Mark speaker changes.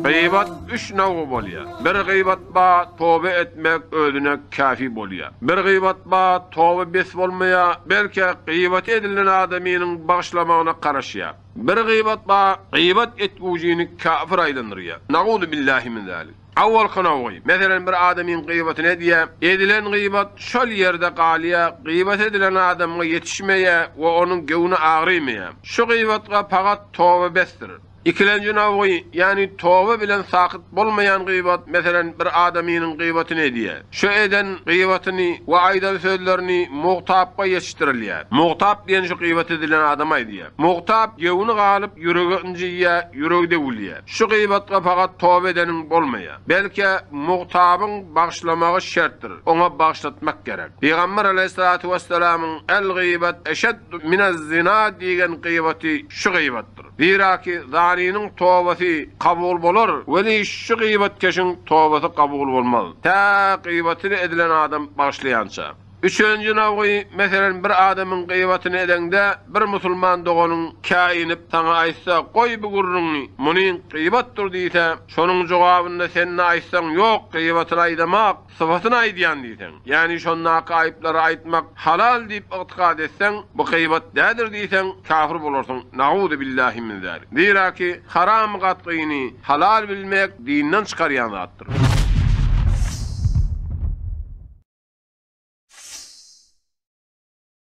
Speaker 1: Gyýbat üç nawgy bolýar. Bir gyýbat bar, toba etmek özüne käfi bolýar. Bir gyýbat bar, toba bes bolmaýar, belke, gyýbaty edilen adamynyň bagyşlamagyna garaşýar. Bir gyýbat bar, gyýbat etgüjini käfir aýlandyrýar. Na'uzubillahi min zalik. Awalky nawgy, meselem, bir adamyň gyýbatyny edýär, edilen gyýbat şol ýerde galýar, gyýbat edilen adamga ýetişmeýär we onuň göwni agrymaýar. Şu gyýbatga pagat toba besdir. Ikilenji navgy, ýagny toba bilen sakyt bolmaýan gybat, meselem, bir adamynyň gybatyny edýär. Şu eden gybatyny we aýdan sözlerini mugtapga ýetişdirilýär. Mugtap diýen şu gybat edilen adama aýdýar. Mugtap gewni galyp, ýüregi ynjyýar, ýüregi döwülýär. Şu gybatga pagat toba edeniň bolmaýar. Belkä, mugtabyň bagyşlamagy şertdir, oňa bagyşlatmak gerek. Pygamber alaýhyssalatu wesselamyň, El-gybat eşeddu minez-zina diýgen gybaty şu gybatdyr. Ziraki zaniniň tobasy kabul bolar, weli şu gybatkeşiň tobasy kabul bolmaz, tä gybatyny edilen adam bagyşlaýança. Üçünji nawgy, meselen, bir adamyň gybatyny edeňde, bir musulman doganyň käýinip, saňa aýtsa, Goý bu gürrüňi, muny gybatdyr diýse, şonuň jogabynda sen-de aýtsaň, Ýok, gybatyny aýdamak, Sypatyny aýdýan diýseň, ýagny şondaky aýyplary aýtmak halal diýip ygtykad etseň, bu gybat dädir diýseň, kafir bolarsyň, na'uzubillahi min zalik. Zira ki, haramy gatgyny halal bilmek dinden çykarýan zatdyr.